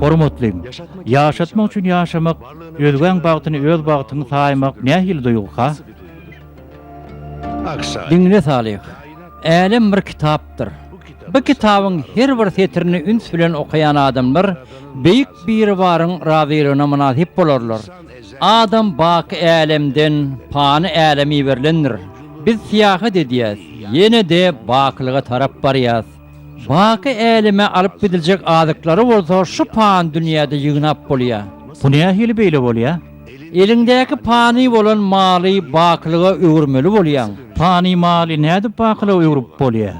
Hormatly! Ýaşatmak üçin ýaşamak, özgäň bagtyny öz bagtyň saýmak nähili duýgyka? Diňle Salyh! Älem bir kitap, ýazylypdyr. Bu kitabyň her bir setirini üns bilen okaýan adamlar Beýik Biribaryň razylygyna mynasyp bolarlar. Adam baky älemden pany äleme iberilendir. Biz syýahat edýäs, ýene-de bakylyga tarap barýas. Baky äleme alyp gidiljek azyklary bolsa şu pany dünýäde ýygnap bolýar. Bu nähili beýle bolýar? Eliňdäki pany bolan maly bakylyga öwürmeli bolýaň. Pany maly nädip bakylyga öwrüp bolýar?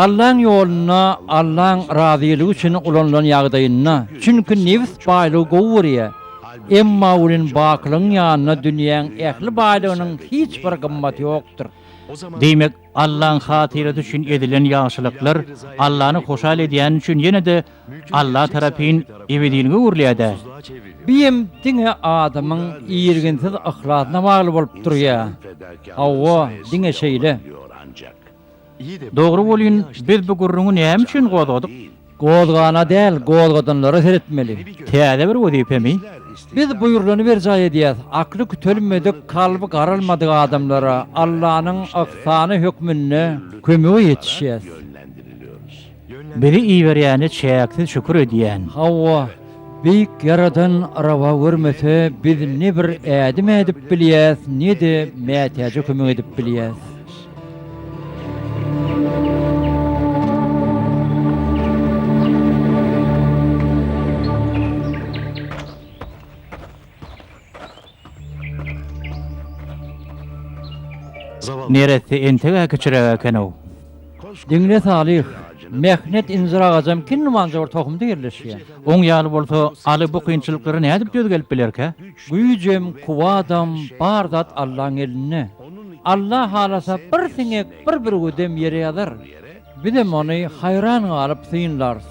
Allaň ýolunda, Allaň razylygy üçin ulanylan ýagdaýynda. Çünki nebs baýlygy gowy görýär. Emma welin bakylygyň ýanynda dünýäň ähli baýlygynyň hiç bir gymmaty ýokdur. Diýmek, Allaň hatyrasy üçin edilen ýagşylyklar Allany hoşal edýäni üçin ýene-de Alla tarapyn ebedilige öwrülýär-dä. Biem diňe adamyň irginsiz yhlasyna bagly bolup durýa. Hawa, diňe şeýle. Dogry bolýn, biz bu gürrüňi näme üçin gozgadyk? Gozgana däl, gozgadanlara seretmeli. Täze bir wezipemi? Biz buýrulany berjaý edýäs, akly kütelmedik, kalby garalmadyk adamlara Allanyň yhsany hökmünde kömege ýetişýäs. Bizi iberýäne çäksiz şükür edýän. Hawa. Beýik Ýaradan rawa görmese biz ne bir ädim ädip bilýäs ne-de mätäje kömek edip bilýäs. Neresse entegä kiçiräk ekenow. Diňle Salyh, Mehnet injir agajam kim nimanja bir tohumda ýerleşýär. Oň ýaly bolsa Aly bu kynçylyklary nädip döz gelip bilerkä? Güýjem, kuwatam, bar zat Allaň elinde. Alla halasa bir siňek, bir bürgüdem ýere ýazar. Bizem ony haýran galyp synlarys.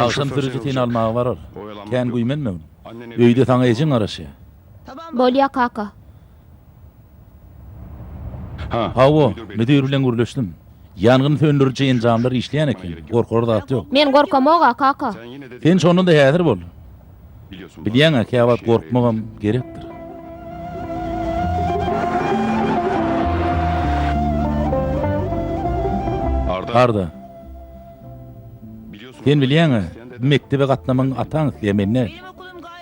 Agşam sürüji seni almaga barar. Kän güýmenme. Öýde saňa ejeň garaşýar. Bolýar kaka. Hawa, müdir bilen gürleşdim. Ýangyn söndüriji enjamlar işleýän eken, gorkar zat ýok. Men gorkamog-a, kaka. Sen şonda-da häzir bol. Bilýäň-ä, käwagt gorkmagam gerekdir. Arda. Sen bilýäňä, mekdebe gatnamagyňy ataň isleýär, men däl.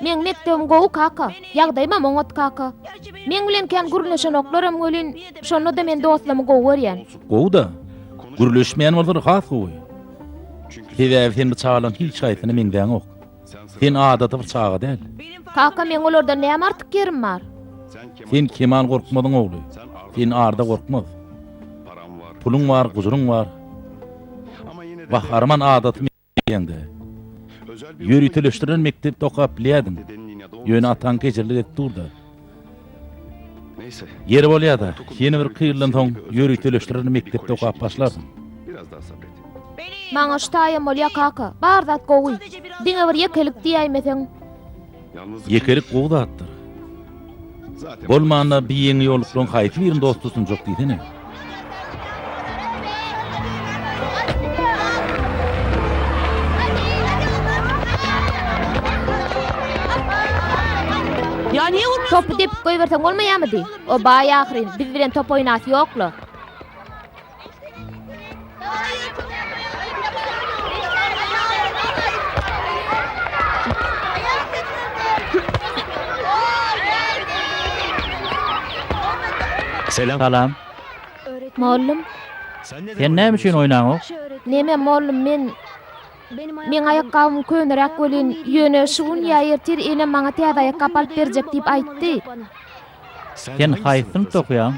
Meň mekdebim gowy, kaka. Ýagdaýymam oňat, kaka. Meň bilen kän gürleşenoklarem welin, şonda-da men dostlarymy gowy görýän. Gowy-da. Gürleşmeýän bolsalar has gowy. Sebäbi sen bu çagalaryň hiç haýsysyna meňzäňok. Sen adaty bir çaga däl. Kaka, meň olardan näme artyk ýerim bar? Sen keman gorkmazyň ogly. Sen arda gorkmaz. Puluň bar, guzuryň bar. Gahar-man adaty meýdanda, ýöriteleşdirilen mekdepde okap bilýärdiň. Ýöne ataň kejirlik edip dur-da. Ýeri bolýar-da, ýene bir iki ýyldan soň ýöriteleşdirer mekdepde okap başlarsyň. Maňa şu taýam bolýar, kaka. Bar zat gowy. Diňe bir ýekelik diýäýmeseň. Ýekelik gowy zatdyr. Bolmanda, biýeňi ýoluklygyň haýsy birini dost tutunjak diýsene. Topy depip goýberseň bolmaýamydy? O baý ahyryn, biz bilen top oýnasy ýokla. Salam. Mollum. Sen näme üçin oýnaňok? Näme mollum men Meň aýakgabym köneräk welin, ýöne şu gün ýa ertir enem maňa täze aýakgap alyp berjek diýip aýtdy. Sen haýsy synpda okaýaň?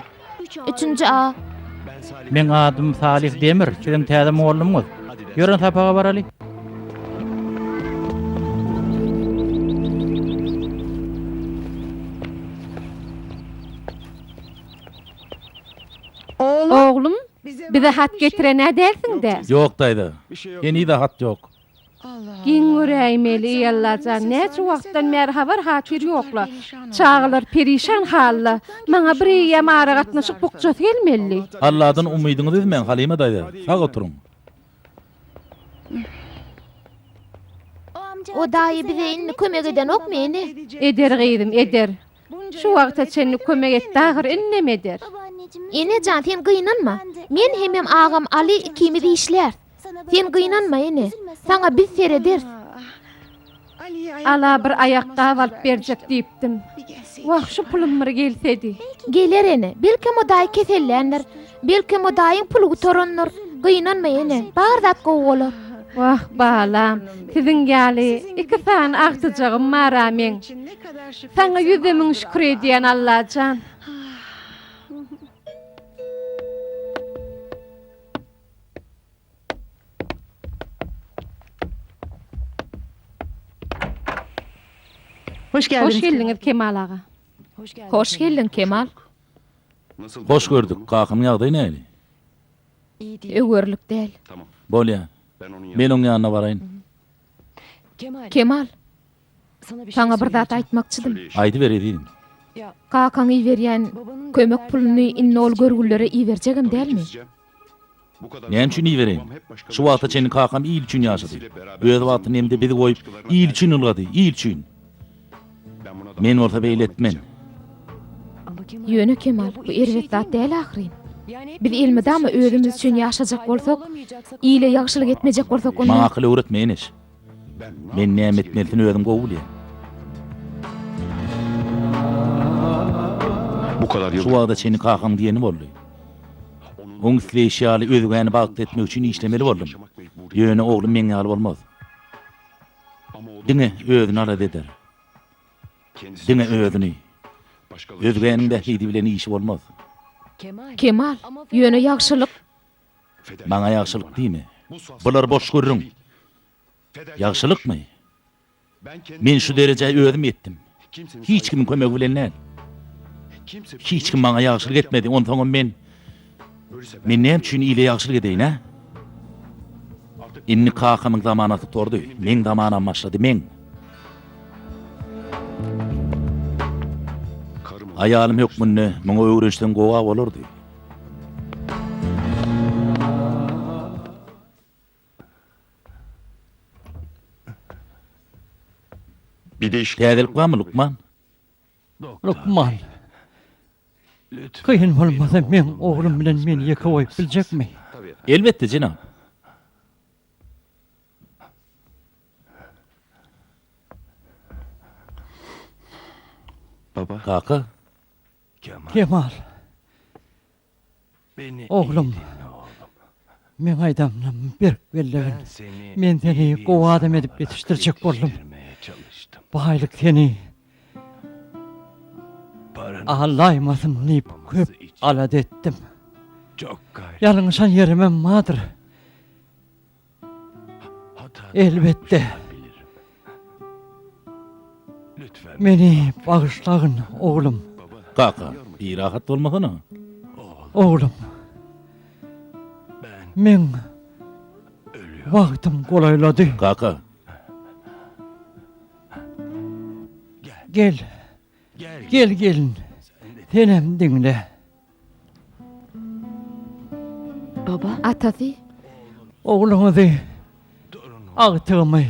Üçünji A. Meň adym Salih Demir, sizem täze mugallymyňyz. Ýörün sapaga baraly. Oglum, bize hat getiren-ä dälsiň-dä? Ýok daýza. Heniz-ä hat ýok. Giň göräýmeli, eý Alla jan, näçe wagtdan bäri habar hatyr ýokla. Çagalar perişan halda. Maňa bir eýýäm aragatnaşyk bukjasy gelmeli. Alladan umydyňyzy üzmäň Halyma daýza, sag oturyň. O daýy bize indi kömek edenokmy, ene? Eder gyzym, eder. Şu wagta çenli kömek etdi ahyr innem eder. Ene jan sen gynanma men hemem agam Aly ikimiz işlers sen gynanma ene saňa biz serederis. Ala bir aýakgap alyp berjek diýipdim. Wah şu pulum bir gelsedi. Geler ene belki mudaý keselländir. Belki modaýyň puly gutarandyr. Gynanma ene, bar zat gowy bolar. Wah balam, siziň ýaly iki sany agtyjagym bar-a meň. Saňa ýüzde müň şükür edýän Allajan. Hoş geldiňiz Kemal aga. Hoş geldiň Kemal. Hoş gördük. Kakanyň ýagdaýy näli? Öý görülik däl. Bolýar. Men oň ýanyna baraýyn. Kemal. Saňa bir zat aýtmakçydym. Aýdyber, ezizim. Kakaň iberýän kömek puluny indi ol görgülilere iberjegem dälmi? Näme üçin ibereýin? Şu wagta çenli kakam il üçin ýaşady. Öz wagtynda hem-de bizi goýup, il üçin ylgady, il üçin. Men bolsa beýle etmen. Ýöne, Kemal, bu erbet zat däl ahyryn. Biz elmydama özümiz üçin ýaşajak bolsak, ile ýagşylyk etmejek bolsak, onda. Maňa akyl öwretme, Eneş. Men näme etmelisini özüm gowy bilýän. Şu wagta çenli kakaň diýeni boldy. Oň isleýşi ýaly özgäni bagtly etmek üçin işlemeli boldum. Ýöne oglum meň ýaly bolmaz. Diňe özüni alada eder. Diňe özüni. Özgäniň bähbidi bilen işi bolmaz. Kemal, ýöne ýagşylyk. Maňa ýagşylyk diýme. Bulary boş gürrüň. Ýagşylykmy? Men şu derejä özüm ýetdim. Hiç kimiň kömegi bilen däl. Hiç kim maňa ýagşylyk etmedi, onsoňam men Men näme üçin ile ýagşylyk edeýin, hä? Indi kakamyň zamanasy gutardy. Meň zamanam başlady, meň. Aýalym hökmünde muňa öwrenşseň gowa bolardy. Täzelik barmy, lukman? Lukman. Kyn bolmasa, meň oglum bilen meni ýeke goýup biljekmi? Elbetde, jenap. Kaka. Kemal. Oglum. Meň aýdanymy berk bellegin. Men seni gowy adam edip ýetişdirjek boldum. Baýlyk seni alaýmasyn diýip köp alada etdim. Ýalňyşan ýerimem bardyr. Elbetde. Meni bagyşlagyn, oglum. Kaka, birahat bolmasana. Oglum. Men wagtym golaýlady. Kaka. Gel. Gel gelin. Senem diňle. Baba, atasy. Ogluňyzy, agtygymy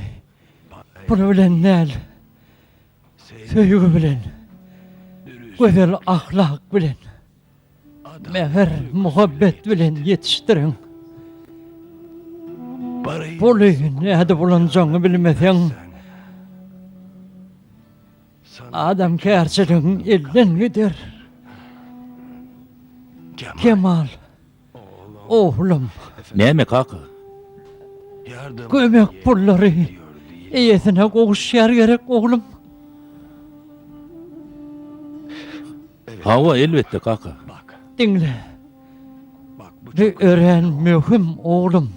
pul bilen däl, söýgi bilen, gözel ahlak bilen, mähir, muhabbet bilen ýetişdiriň. Puly nädip ulanjagyňy bilmeseň, Adamkärçiligiň elden gider. Kemal, oglum. Näme, kaka? Kömek pullary eýesine gowuşýar gerek, oglum. Hawa, elbetde, kaka. Diňle. Bu örän möhüm, oglum.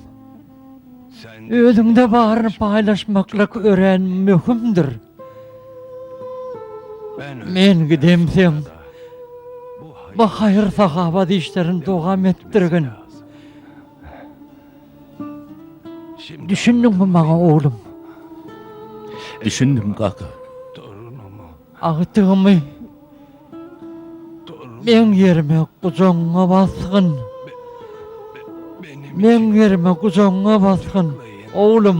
Özüňde baryny paýlaşmaklyk örän möhümdir. Men gidemsoň, bu haýyr-sahawat işlerini dowam etdirgin. Düşündiňmi maňa, oglum? Düşündim, kaka. Agtygymy meň ýerime gujagyňa basgyn. Meň ýerime gujagyňa basgyn, oglum.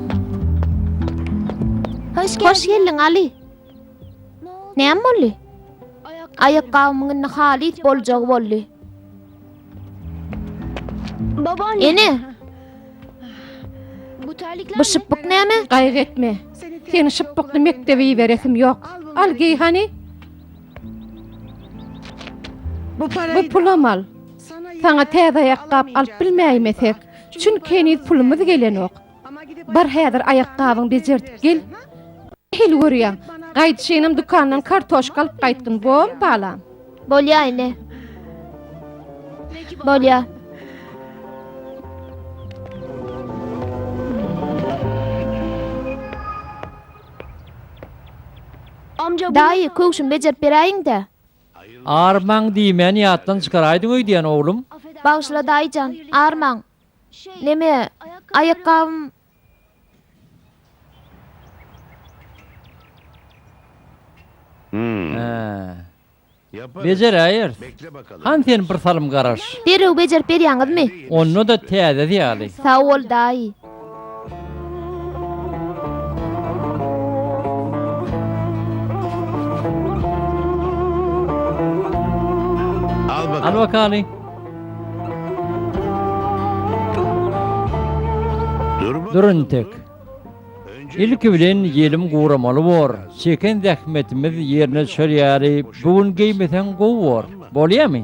Hoş geldiň, Aly. Näme boldy? Aýakgabymyň indi halys boljagy boldy. Ene! Bu şypbyk näme? Gaýgy etme. Seni şypbykly mekdebe iberesim ýok. Al geý hany. Bu pulam al. Saňa täze aýakgap alyp bilmäýmesek, çünki heniz pulumyz gelenok. Bar häzir aýakgabyňy bejertip gel. Hili görýäň. Gaýdyşynam dükandan kartoşka alyp gaýtgyn, bormy balam? Bolýar ene. Bolýar. Daýy, köwşümi bejerip beräýiň-dä. Armaň diýmäni ýatdan çykaraýdyň öýdýän, oglum. Bagyşla daýyjan, armaň. Neme, aýakgabym. Bejeräýeris. Han sen bir salym garaş. Derrew bejerip berýäňizmi? Onda-da täzesi ýaly. Sag bol, daýy. Al bakaly. Dur intek. Ilki bilen ýelim guramaly bor. Çeken zähmetimiz ýerine düşer ýaly, bu gün geýmeseň gowy bor. Bolýamy?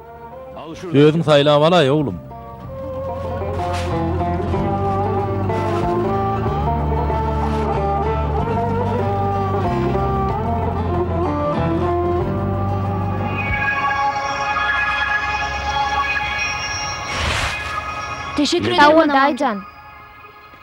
Özüň saýlap alaý oglum. Teşekkür ederim, Manawan daýyjan.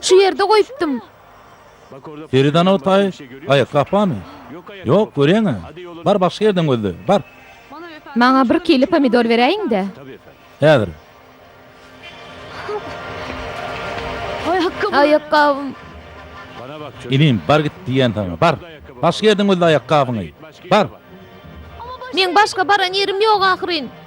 Şu ýerde goýupdym. Feridan Otaý, Aýakgap barmy? Ýok, görýäň-ä. Bar, başga ýerden gözle. Bar. Maňa bir kile pomidor beräýiň-dä. Häzir. Aýakgabym. Inim, bar git diýýän saňa. Bar. Başga ýerden gözle aýakgabyňy. Bar. Meň başga baran ýerim ýok ahyryn.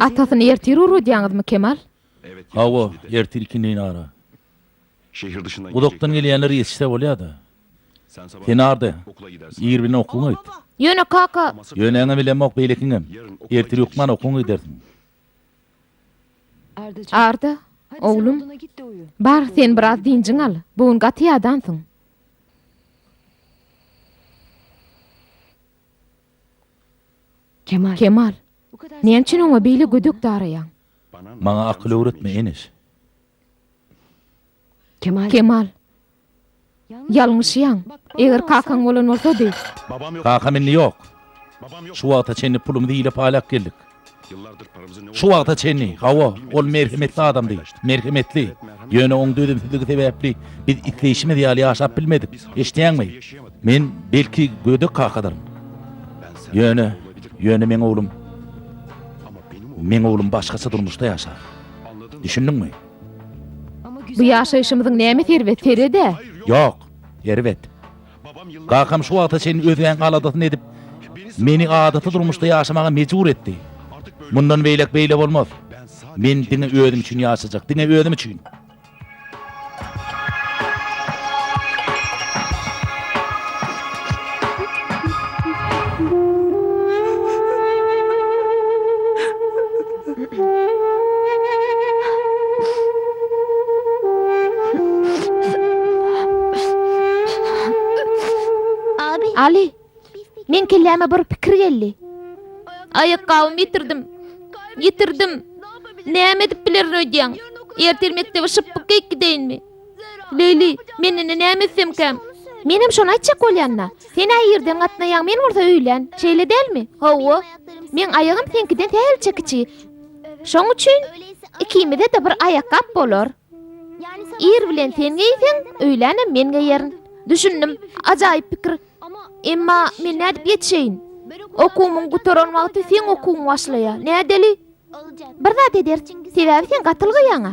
Atasyny ertir ugradýaňyzmy, Kemal? Hawa, ertir ikindin ara. Uzakdan gelýänler ýetişse bolýa-da. Sen nade? Ir bilen okuwyňy aýt. Ýöne, kaka. Ýöneňem bilemok, beýlekiňem. Ertir hökman okuwyňy gidersiň. Arda, oglum. Bar, sen biraz dynjyň al. Bu gün gaty ýadansyň. Kemal, näme üçin oňa beýle gödek daraýaň? Maňa akyl öwretme, Eneş. Kemal, ýalňyşýaň. Eger kakaň bolan bolsady. Kakam indi ýok. Şu wagta çenli pulumyzy hilep-aýlap geldik. Şu wagta çenli, hawa, ol merhemetli adamdy. Merhemetli. Ýöne oň dözümsizligi sebäpli biz isleýşimiz ýaly ýaşap bilmedik. Eşidýäňmi? Men, belki, gödek kakadyryn. Ýöne, ýöne meň oglum, meň oglum başgaça durmuşda ýaşar. Düşündiňmi? Bu ýaşaýşymyzyň näme serwet, sered-ä? Ýok, erbet. Kakam şu wagta çenli özgäniň aladasyny edip, meni adaty durmuşda ýaşamaga mejbur etdi. Mundan beýläk beýle bolmaz. Men diňe özüm üçin ýaşajak, diňe özüm üçin. Aly, meň kelläme bir pikir geldi. Aýakgabymy ýitirdim. Ýitirdim. Näme edip bilerin öýdýäň? Ertir mekdebe şypbykka gidäýinmi? Leýli, men indi näme etsemkäm? Menem şony aýtjak bolýan-da. Sen-ä irden gatnaýaň, men bolsa öýlän. Şeýle dälmi? Hawa. Meň aýagym seňkiden sälçe kiçi. Şoň üçin ikimize-de bir aýakgap bolar. Ir bilen sen geýseň, öýlänem men geýerin. Düşündim. Ajaýyp pikir. Emma men nädip ýetişeýin? Okuwymyň gutaran wagty seň okuwyň başlaýar. Nädeli? Bir zat ederis. Sebäbi sen gaty ylgaýaň-a.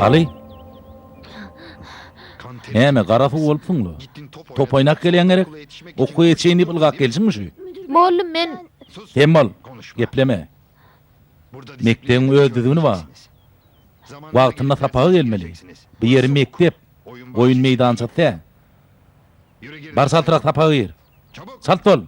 Aly! Näme, gara suw bolupsyň-la? Top oýnap gelýäň gerek? Okuwa ýetişeýin diýip ylgap geljiňmi şu? Boldum, men. Sen bol, gepleme. Mekdebiň öz düzgüni bar. Wagtynda sapaga gelmeli. Bu ýeri mekdep, oýun meýdançasy däl. Bar çaltrak sapaga gir. Çalt bol!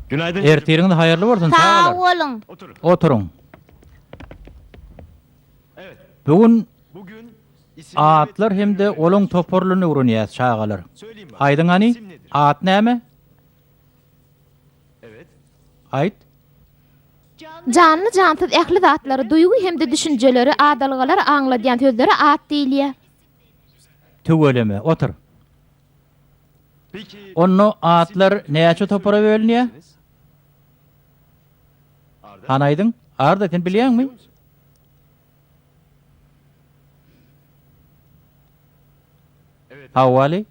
Günaydın. Ertiriňiz haýyrly bolsun çagalar. Sag boluň. Oturyň. Bu gün atlar hem-de olaň toparlaryny öwrenýäs çagalar. Aýdyň hany, at näme? Aýt. Janly jansyz ähli zatlary, duýgy hem-de düşünjeleri, adalgalary aňladýan sözlere at diýilýär. Tüweleme, otur. Onda atlar näçe topara bölünýär? Hany aýdyň, Arda, sen bilýäňmi? Hawa, Wali.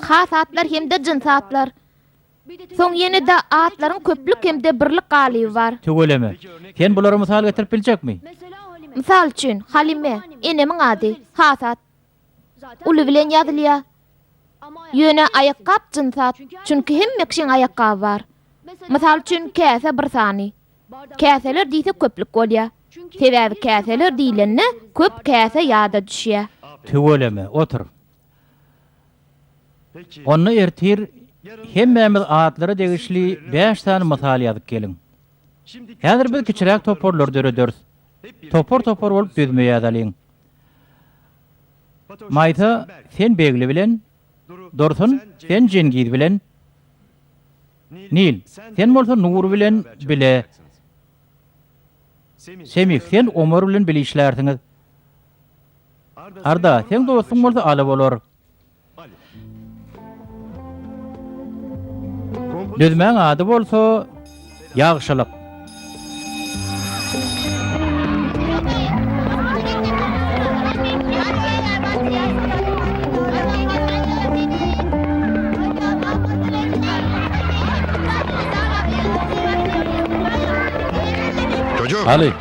Has atlar hem-de jyns atlar. Soň ýene-de atlaryň köplük hem-de birlik galyby bar. Tüweleme. Sen bulary mysal getirip biljekmi? Mysal üçin, Halime, enemiň ady, has at. Uly bilen ýazylýar. Ýöne aýakgap jyns at, çünki hemme kişiň aýakgaby bar. Mysal üçin, käse bir sany. Käseler diýsek köplük bolýar. Sebäbi käseler diýlende köp käse ýada düşýär. Tüweleme, otur. Onda ertir hemmämiz atlara degişli bäş sany mysal ýazyp geliň. Häzir biz kiçiräk toparlar dörederis. Topar-topar bolup düzme ýazalyň. Maýsa, sen Begli bilen, Dursun, sen Jengiz bilen, Nil, sen bolsa Nur bilen bile, Semih, sen Omar bilen bile işlärsiňiz. Arda, seň dostuň bolsa Aly bolar. Düzmäň ady bolsa Ýagşylyk. Aly,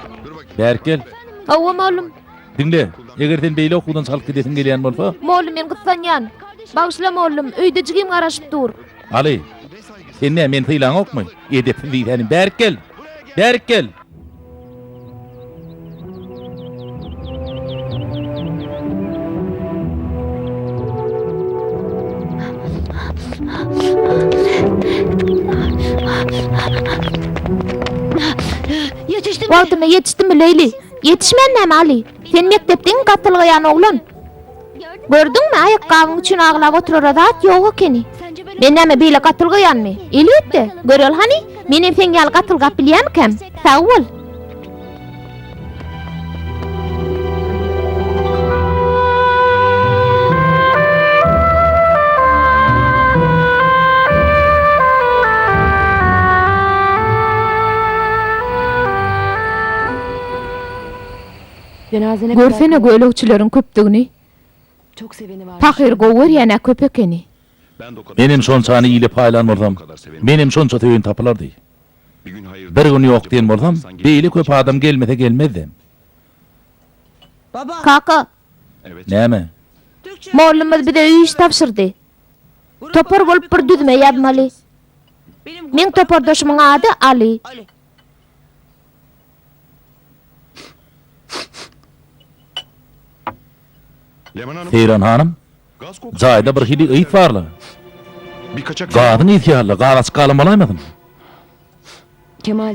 bärik gel. Hawa, mugallym. Diňle, eger sen beýle okuwdan çykalyp gidesiň gelýän bolsa. Mollum men gyssanýan. Bagyşla mollum, öýde jigim garaşyp dur. Aly, sen nä meni sylaňokmy? Edepsiz diýsänim, bärik gel! Bärik gel! Wagtynda ýetişdimmi, Leýli? Ýetişmän näme Aly? Sen mekdepde iň gatylgaýan oglan. Gördüňmi, aýakgabyň üçin aglap oturara zat ýok ekeni. Men näme beýle gatylgaýanmy? Elbetde. Göreli hany, menem seň ýaly gatylgap bilýämikäm? Sag bol. Görsene gölegçileriň köpdügini. Pahyr gowy görýän-ä köp ekeni. Menem şonçany ile paýlan bolsam, menem şonça söýen tapylardy. Bir gün ýok diýen bolsam, beýle köp adam gelmese gelmezdem. Kaka! Näme? Mollumyz bize iş tabşyrdy. Topar bolup bir düzme ýazmaly. Meň topardaşymyň ady Aly. Seýran hanym, jaýda birhili ys bar-la. Gazyň ysy ýaly-la, garaçyk galan bolaýmasyn?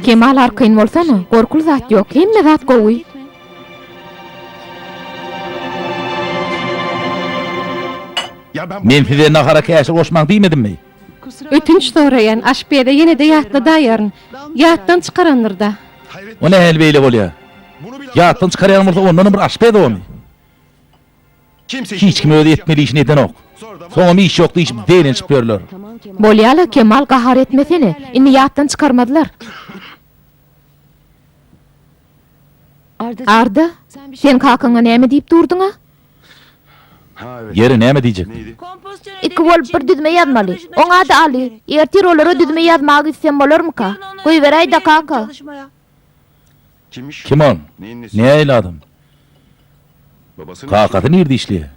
Kemal arkaýyn bolsana, gorkuly zat ýok, hemme zat gowy. Men size nahara käşir goşmaň diýmedimmi? Ötünç soraýan, aşpeze ýene-de ýatladaýaryn. Ýatdan çykarandyr-da. O nähili beýle bolýar? Ýatdan çykarýan bolsa, ondanam bir aşpez ony. Hiç kim özi etmeli işini edenok. Soňam iş ýok diýşip zeýrenşip ýörler. Bolýa-la, Kemal gahar etmesene. Indi ýatdan çykarmazlar. Arda, sen kakaňa näme diýip durduň-a? Ýeri, näme diýjekdim. Iki bolup bir düzme ýazmaly. Oň ady Aly. Ertir olara düzme ýazmaga gitsem bolarmyka? Goýberäý-dä, kaka. Kim ol? Nähili adam? Kakasy nirde işleýär?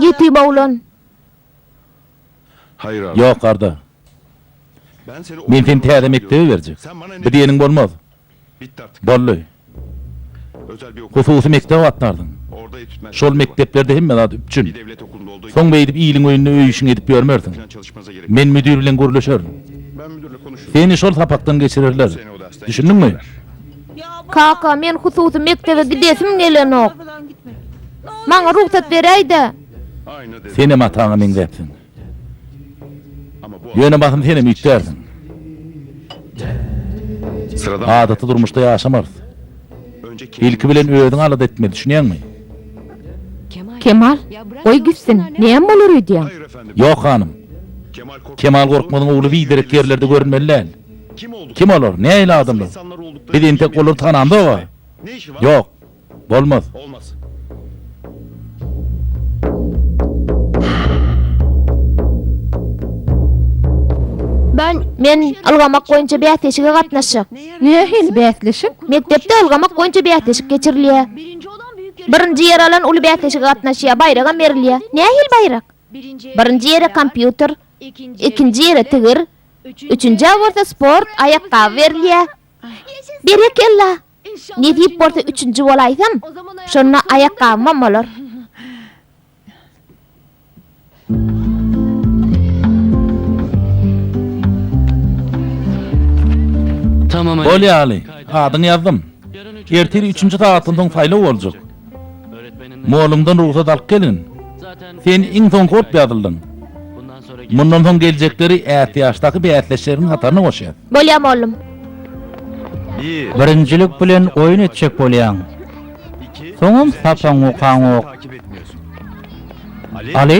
Ýetim oglan. Ýok, Arda. Men seni täze mekdebe berjek. Bu diýeniň bolmaz. Boldy. Hususy mekdep agtardyň. Şol mekdeplerde hemme zat üpjün. Soň beýdip iliň öýünde öý-işiňi edip ýörmersiň. Men müdir bilen gürleşerin. Seni şol sapakdan geçirerler. Düşündiňmi? Kaka, men hususy mekdebe gidesim gelenok. Maňa rugsat beräý-dä! Senem ataňa meňzäpsiň. Ýöne basym senem üýtgärsiň. Adaty durmuşda ýaşamarys. Ilki bilen özüňi alada etmeli, düşünýäňmi? Kemal, goý gitsin, näme bolar öýdýäň? Ýok hanym. Kemal Gorkmazyň ogly biderek ýerlerde görünmeli däl. Kim olar, nähili adamlar? Biz entek olary tanamzok-a. Ýok, Bolmaz. Men ylgamak boýunça bäsleşige gatnaşjak. Nähili bäsleşik? Mekdepde ylgamak boýunça bäsleşik geçirilýär. Birinji ýer alan uly bäsleşige gatnaşýar, baýragam berilýär. Nähili baýrak? Birinji ýere kompýuter, ikinji ýere tigir, üçünjä bolsa sport aýakgaby berilýär. Berekella! Nesip bolsa üçünji bolaýsam, şonda aýakgabymam bolar. Bolýaly, adyňy ýazdym. Ertir üçünji sagatdan soň saýlaw boljak. Mollumdan rugsat alyp gelgin. Sen iň soňky bolup ýazyldyň. Mundan soň geljekleri ätiýaçdaky bäsdeşleriňiň hataryna goşýas. Bolýar, mollum. Birinjilik bilen oýun etjek bolýaň. Soňam sapaň okaňok. Aly.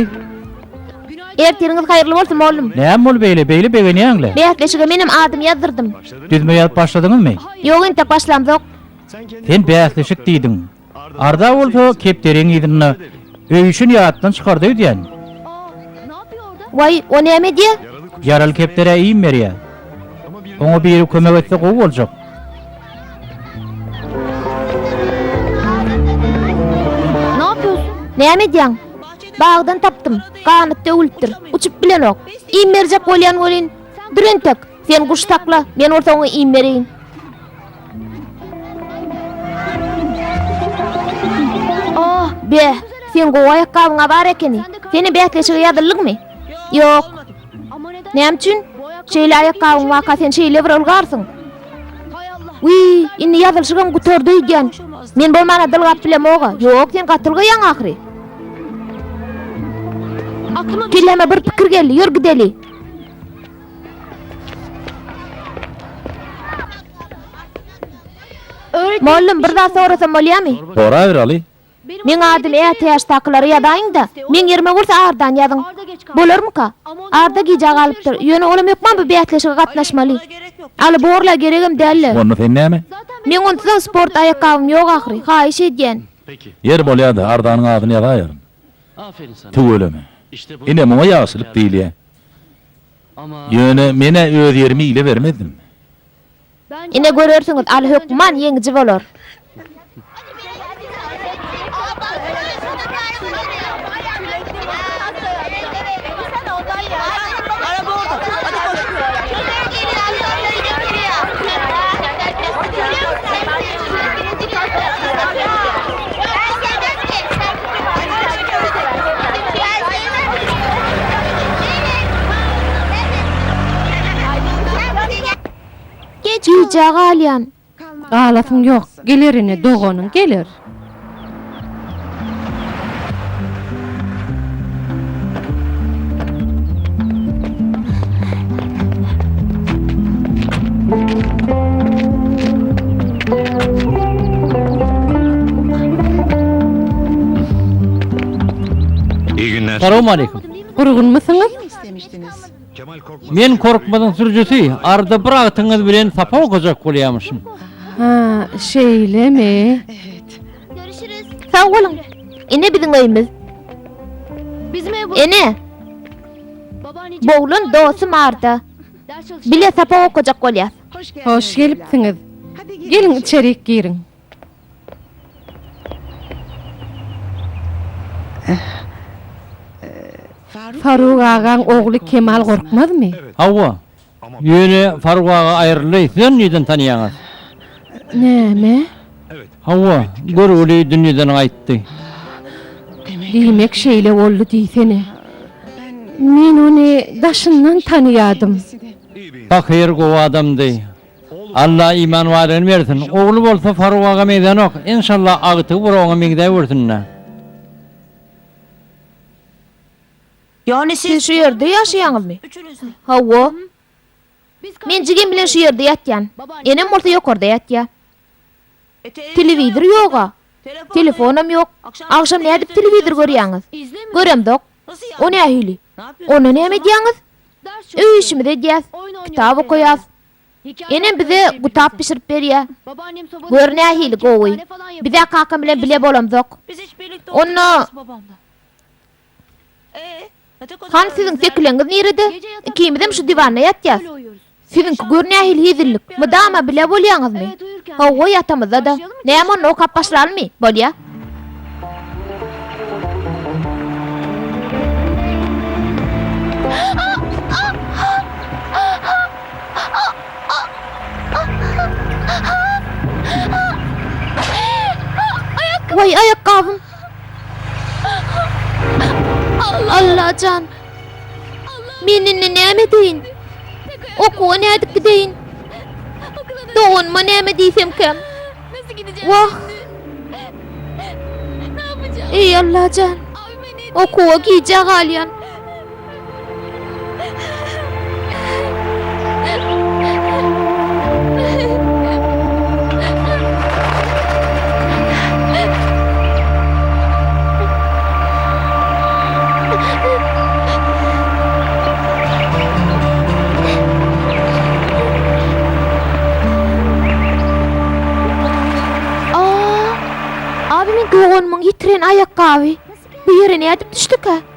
Ertiriňiz haýyrly bolsun, mollum. Näme bolup eýle, beýle begenýäň-le? Bäsleşige menem adym ýazdyrdym. Düzme ýazyp başladyňyzmy? Ýok, entek başlamzok. Sen bäsleşik diýdiň. Arda bolsa kepderiň yzynda öýüşin ýatdan çykardy öýdýän. Waý, o näme edýä? Ýaraly kepderä iým berýä. Oňa biri kömek etse gowy boljak. Näme edýäň? Bagdan tapdym. Ganatda öwülipdir. Uçup bilenok. Iým berjek bolýan welin, dur entek. Sen guş sakla, men bolsa oňa iým bereýin. Ah, be, sen gowy aýakgabyňa bar ekeni. Seni bäsleşige ýazyldyňmy? Ýok. Näme üçin? Şeýle aýakgabyň waka sen şeýle bir ylgarsyň. Wi, indi ýazylşygym gutardy öýdýän. Men bolmana dylgap bilemoga. Ýok, sen gaty ylgaýaň ahyry. Kelläme bir pikir geldi, ýör gideli. Mollum, bir zat sorasam bolýamy? Sora Ýeraly. Meň adym ätiýaçdakylara ýazaýyň-da, meň ýerime bolsa ardan ýazyň. Bolarmyka? Arda gijä galypdyr. Ýöne olam hökman bu bäsleşige gatnaşmaly. Aly borla geregem däl-le. Onda sen näme? Meň onsuzam sport aýakgabym ýok ahyry. Haýyş edýän. Ýeri bolýa-da, ardanyň adyny ýazaýaryn. Tüweleme. Ine, muňa ýagşylyk diýilýä. Ýöne men-ä öz ýerimi ile bermezdim. Ine görersiňiz, Aly hökman ýeňiji bolar. Gijä galýan. Galasyň ýok. Geler ine, doganyň geler. Salam aleýkum. Gurgunmysyňyz? Men Korkmazyň sürüjisi, arada bir agtyňyz bilen sapa okajak bolýamyşym. Ha, şeýlemi? Görüşürüz. Sag boluň. Ine biziň öýümüz. Ene! Bu oglan dostum Arda. Bile sapa okajak bolýas. Hoş gelipsiňiz. Geliň içerik giriň. Faruk agaň ogly Kemal gorkmazmy? Hawa. Ýöne Faruk aga aýryldy. Sizem nireden tanýaňyz? Näme? Hawa, görgüli dünýeden gaýtdy. Diýmek şeýle boldy diýsene. Men ony daşyndan tanýadym. Pahyr gowy adamdy. Alla iman badygyny bersin. Ogly bolsa Faruk aga meňzänok. Enşalla agtygy bir oňa meňzäwürsindä. Siz şu ýerde ýaşaýaňyzmy? Hawa. Men jigim bilen şu ýerde ýatýan. Enem bolsa ýokarda ýatýa. Telewizor ýog-a. Telefonam ýok. Agşam nädip telewizor görýäňiz? Göremzok. O nähili? Onda näme edýäňiz? Öý işimizi edýäs. Kitap okaýas. Enem bize gutap bişirip berýär. Gör nähili gowy. Biz-ä kakam bilen bile bolamzok. Onda Han siziň sekileňiz nirede? Ikimizem şu diwana ýatýas. Siziňki gör nähili hezillik. Mydama bile bolýaňyzmy? Hawa ýatamyzda-da. Näme onda okap başlalymy? Bolýa. Waý aýakgabym. Allajan! Men indi näme edeýin? Okuwa nädip gideýin? Doganyma näme diýsemkäm? Wah! Eý Allajan! Okuwa gijä galýan. Aa! Abi men doganymyň ýitiren aýakgaby. Bu ýere nädip düşdükä?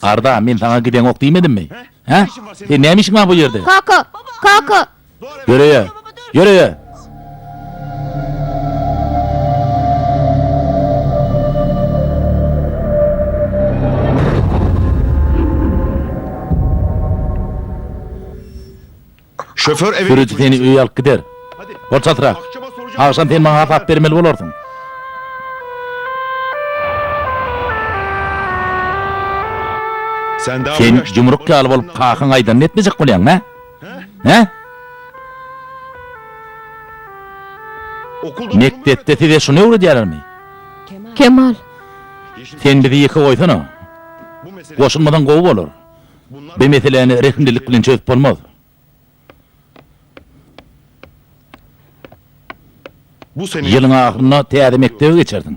Arda, men saňa gideňok diýmedimmi? Hä? Seň näme işiň bar bu ýerde? Kaka! Kaka! Ýöreýe! Ýöreýe! Sürüji seni öýe alyp gider. Bolçasyrak, agşam sen maňa hasap bermeli bolarsyň. Sen ýumruk ýaly bolup kakaň aýdanyny etmejek bolýaňmy, hä? Mekdepde size şuny öwredýärlermi? Kemal. Sen bizi ýeke goýsana. Goşulmasaň gowy bolar. Bu meseläni rehimlilik bilen çözüp bolmaz. Ýylyň ahyrynda täze mekdebe geçersiň.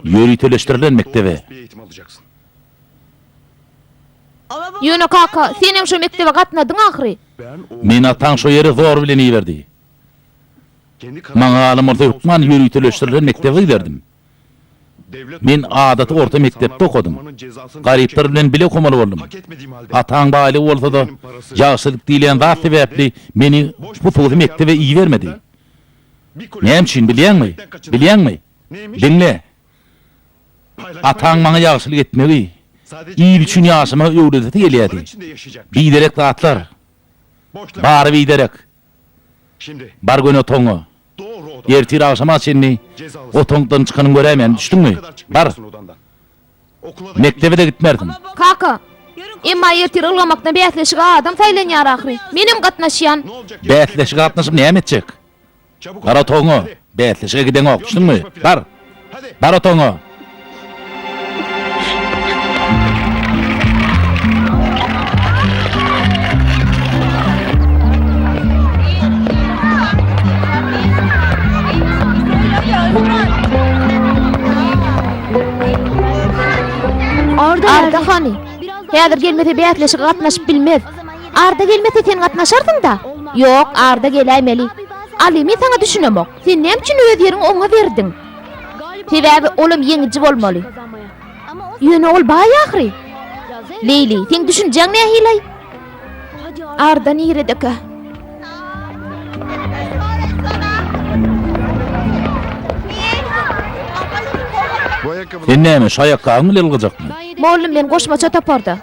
Ýöriteleşdirilen mekdebe. Ýöne kaka, senem şo mekdebe gatnadyň ahyry. Meni ataň şo ýere zor bilen iberdi. Maňa galan bolsa hökman ýöriteleşdirilen mekdebe giderdim. Men adaty orta mekdepde okadym. Garyplar bilen bile okamali boldum. Ataň baýlygy bolsada, ýagşylyk diýilýän zat sebäpli meni hususy mekdebe ibermedi. Näme üçin bilýäňmi? Bilýäňmi? Diňle! Ataň maňa ýagşylyk etmegi, il üçin ýaşamagy öwredesi gelýärdi. Biderek zatlar. Bary biderek. Bar göni otagyňa. Ertir agşama çenli otaňdan çykanyny göräýmäni düşdüňmi? Bar! Mekdebe-de gitmersiň! Kaka! Emma ertir ylgamakdan bäsleşige adam saýlanýar ahyry. Menem gatnaşýan! Bäsleşige gatnaşyp näme etjek? Bar otagyňa! Bäsleşige gideňok, düşdüňmi? Bar! Bar otagyňa! Arda hany? Häzir gelmese bäsleşige gatnaşyp bilmez. Arda gelmese sen gatnaşarsyň-da? Ýok, Arda geläýmeli. Alymy saňa düşünemok. Sen näme üçin öz ýeriňi oňa berdiň? Sebäbi olam ýeňiji bolmaly. Ýöne ol baý ahyry. Leýli, seň düşünjäň nähili-aý? Arda niredekä? Sen näme, şu aýakgabyň bilen ylgajakmy? Mollum, men goşmaça toparda.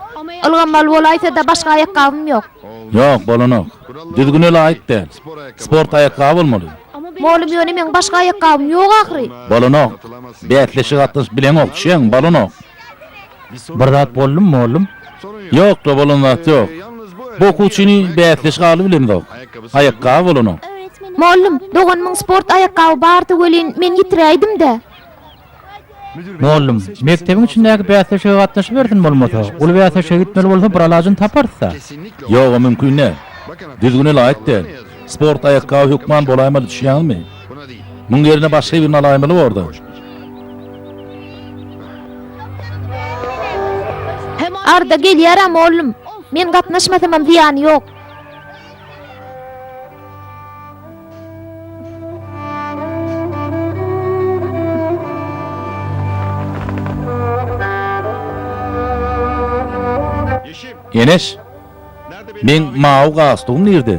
Ylganmaly bolaýsa-da, başga aýakgabym ýok. Ýok, bolanok. Düzgüne laýyk däl. Sport aýakgaby bolmaly. Mugallym ýöne meň başga aýakgabym ýok ahyry. Bolanok. Bäsleşige gatnaşyp bileňok, düşýäňmi? Bolanok. Bir zat boldumy mugallym? Ýokda bolan zat ýok. Bu okuwçyny bäsleşige aly bilemzok. Aýakgaby bolanok. Mugallym, doganymyň sport aýakgaby bardy welin men ýitiräýdim-dä. Mollum, mekdebiň içindäki bäsleşige gatnaşybersin bolmasa, uly bäsleşige gitmeli bolsa bir alajyny taparys-da. Ýog-a mümkin däl. Düzgüne laýyk däl. Sport aýakgaby hökman bolaýmaly düşýäňizmi? Muň ýerine başga birini alaýmaly borda. Arda, Gelýär-ä mollum. Men gatnaşmasamam zyýany ýok. Eneş! Meň mawy galstugym nirde?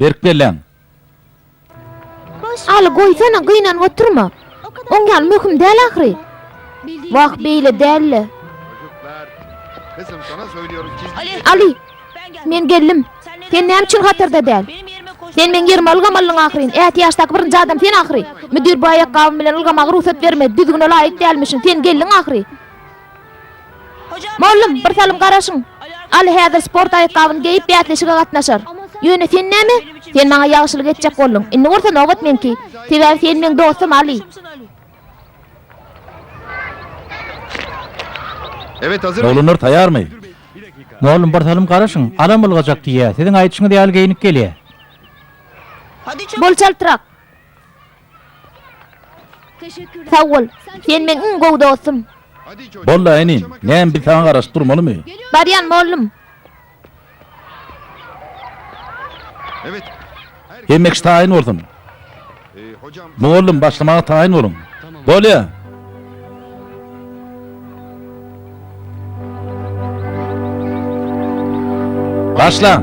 Berk belläň! Aly, goýsana, gynanyp oturma. Oň ýaly möhüm däl ahyry. Wah, beýle däl-le. Aly, men geldim. Sen näme üçin hatarda däl? Sen meň ýerime ylgamalydyň ahyryn. Ätiýaçdaky birinji adam sen ahyry. Müdir bu aýakgabym bilen ylgamaga rugsat bermedi. Düzgüne laýyk dälmişin. Sen geldiň ahyry. Mollum, bir salym garaşyň. Aly häzir sport aýakgabyny geýip bäsleşige gatnaşar. Ýöne sen näme? Sen maňa ýagşylyk etjek bolduň. Indi bolsa nobat meňki. Sebäbi sen meň dostum, Aly. Oglanlar taýarmy? Mollum, bir salym garaşyň. Alam ylgajak diýýä. Siziň aýdyşyňyz ýaly geýnip gelýä. Bol çaltrak. Sag bol. Sen meň iň gowy dostum. Boldy-a inim. Näme biz saňa garaşyp durmalymy? Barýan mollum. Hemme kişi taýyn bolsun. Mollum başlamaga taýyn boluň. Bolýa. Başlaň.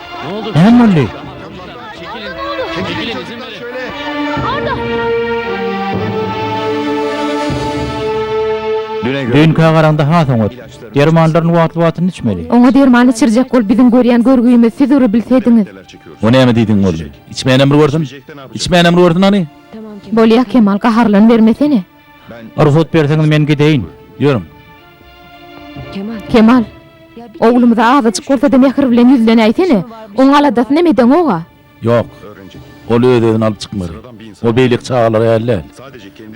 Näme boldy? Düýnki agaraňda has oňat. Dermanlaryny wagtly-wagtynda içmeli. Oňa derman içirjek bolup biziň görýän görgümizi siz ury bilsediňiz. O näme diýdiň boldy. Içmänem bir görsün. Içmänem bir görsün hany. Bolýa Kemal gaharlanybermesene. Rugsat berseňiz men gideýin. Ýörüň. Kemal. Oglumyza azajyk bolsa-da mähir bilen ýüzlenäýsene. Oň aladasynam edeňog-a. Ýok. Ol öz-özüni alyp çykmaz. Ol beýleki çagalar ýaly däl.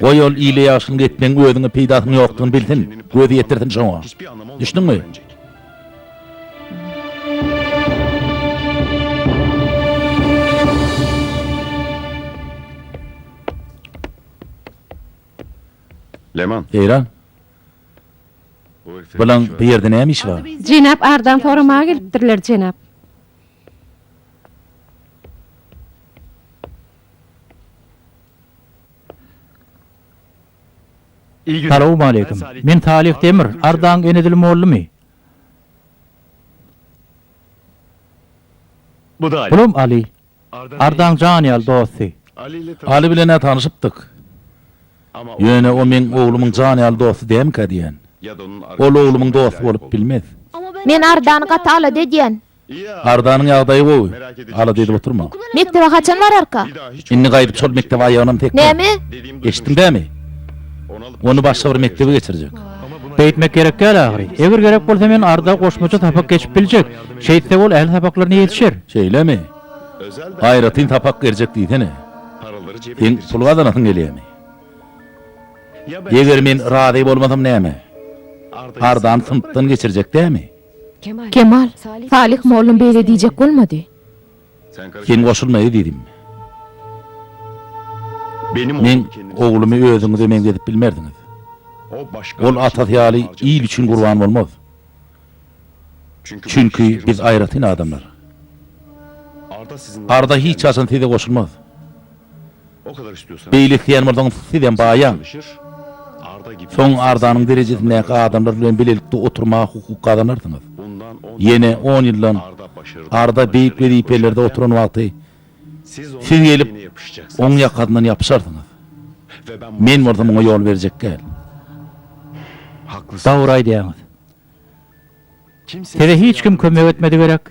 Goý ol ile ýagşylyk etmegiň özüňe peýdasynyň ýokdugyny bilsin, gözi ýetirsin şoňa. Düşdüňmi? Eýran? Bulaň bu ýerde näme işi bar? Jenap Ardan soramaga gelipdirler, jenap. Salowmaleýkim. Men Salih Demir, Ardaň Enedil mollumi? Bulam Aly. Ardaň jan ýaly dosty. Aly bilen-ä tanyşypdyk. Ýöne o meň oglumyň jan ýaly dosty dälmikä diýýän. Ol oglumyň dosty bolup bilmez. Men Ardany gaty alada edýän. Ardanyň ýagdaýy gowy. Alada edip oturma. Mekdebe haçan bararka? Indi gaýdyp şol mekdebe aýagynam tekme. Näme? Eşitdiň dämi? Ony başga bir mekdebe geçirjek. Beýtmek gerek däl ahyry. Eger gerek bolsa men Arda goşmaça sapak geçip biljek. Şeýtse ol ähli sapaklaryna ýetişer. Şeýlemi? Aýratyn sapak berjek diýsene. Seň pul gazanasyň gelýärmi? Eger men razy bolmasam näme? Ardany synpdan geçirjek dämi? Kemal, Salyh molla beýle diýjek bolmady. Sen goşulmaýa diýdim. Meň oglumy özüňize meňzedip bilmersiňiz. Ol atasy ýaly il üçin gurban bolmaz. Çünki biz aýratyn adamlar. Arda hiç haçan size goşulmaz. Beýle isleýän bolsaňyz sizem baýaň. Soň Ardanyň derejesindäki adamlar bilen bilelikde oturmaga hukuk gazanarsyňyz. Ýene on ýyldan Arda beýik wezipelerde oturan wagty Siz gelip, oň ýakasyndan ýapyşarsyňyz. Men bolsa muňa ýol berjek däl. Dogry aýdýaňyz. Size hiç kim kömek etmedi gerek?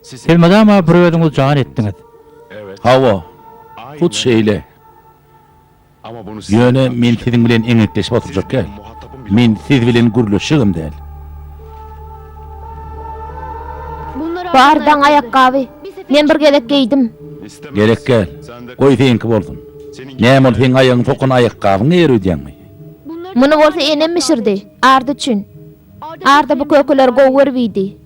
Siz mydama bir özüňiz jan etdiňiz. Hawa, hut şeýle. Ýöne men siziň bilen eňekleşip oturjak däl. Men siz bilen gürleşjegem däl. Bar, daň aýakgaby. Men bir gezek geýdim. Gerek däl. Goý seňki bolsun. Näme ol seň aýagyňy sokan aýakgabyňy ýere öýdýäňmi? Muny bolsa enem bişirdi. Ardy üçin. Arda bu kökeler gowy görüp iýdi.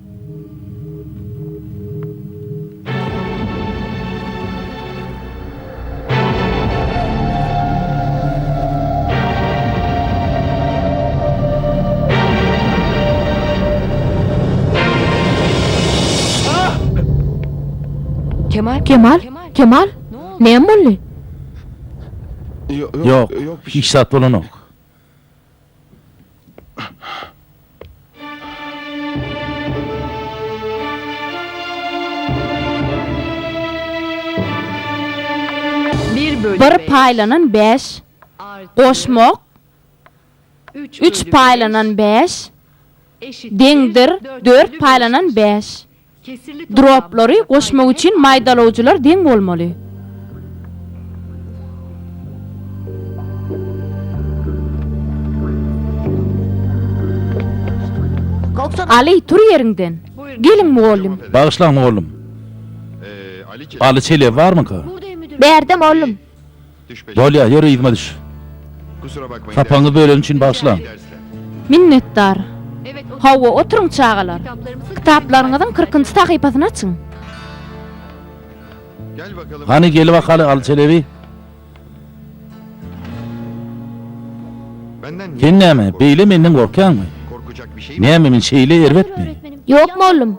Kemal? Kemal? Näme boldy? Ýok, hiç zat bolanok. Bir paýlanan bäş, goşmak, üç paýlanan bäş, deňdir, dört paýlanan bäş. Droplary goşmak üçin maýdalawjylar deň bolmaly. Aly, tur ýeriňden! Geliň, mugallym! Bagyşlaň, mugallym. Aly, çelebi barmyka? Bärde, mugallym. Bolýa, ýör yzyma düş. Sapagyňyzy böleni üçin bagyşlaň. Minnetdar. Hawa, oturyň çagalar. Kitaplaryňyzyň kyrkynjy sahypasyny açyň. Hany, gelibakaly, Aly Çelebi. Sen näme, beýle menden gorkýaňmy? Näme, men şeýle erbetmi? Ýok, mollum.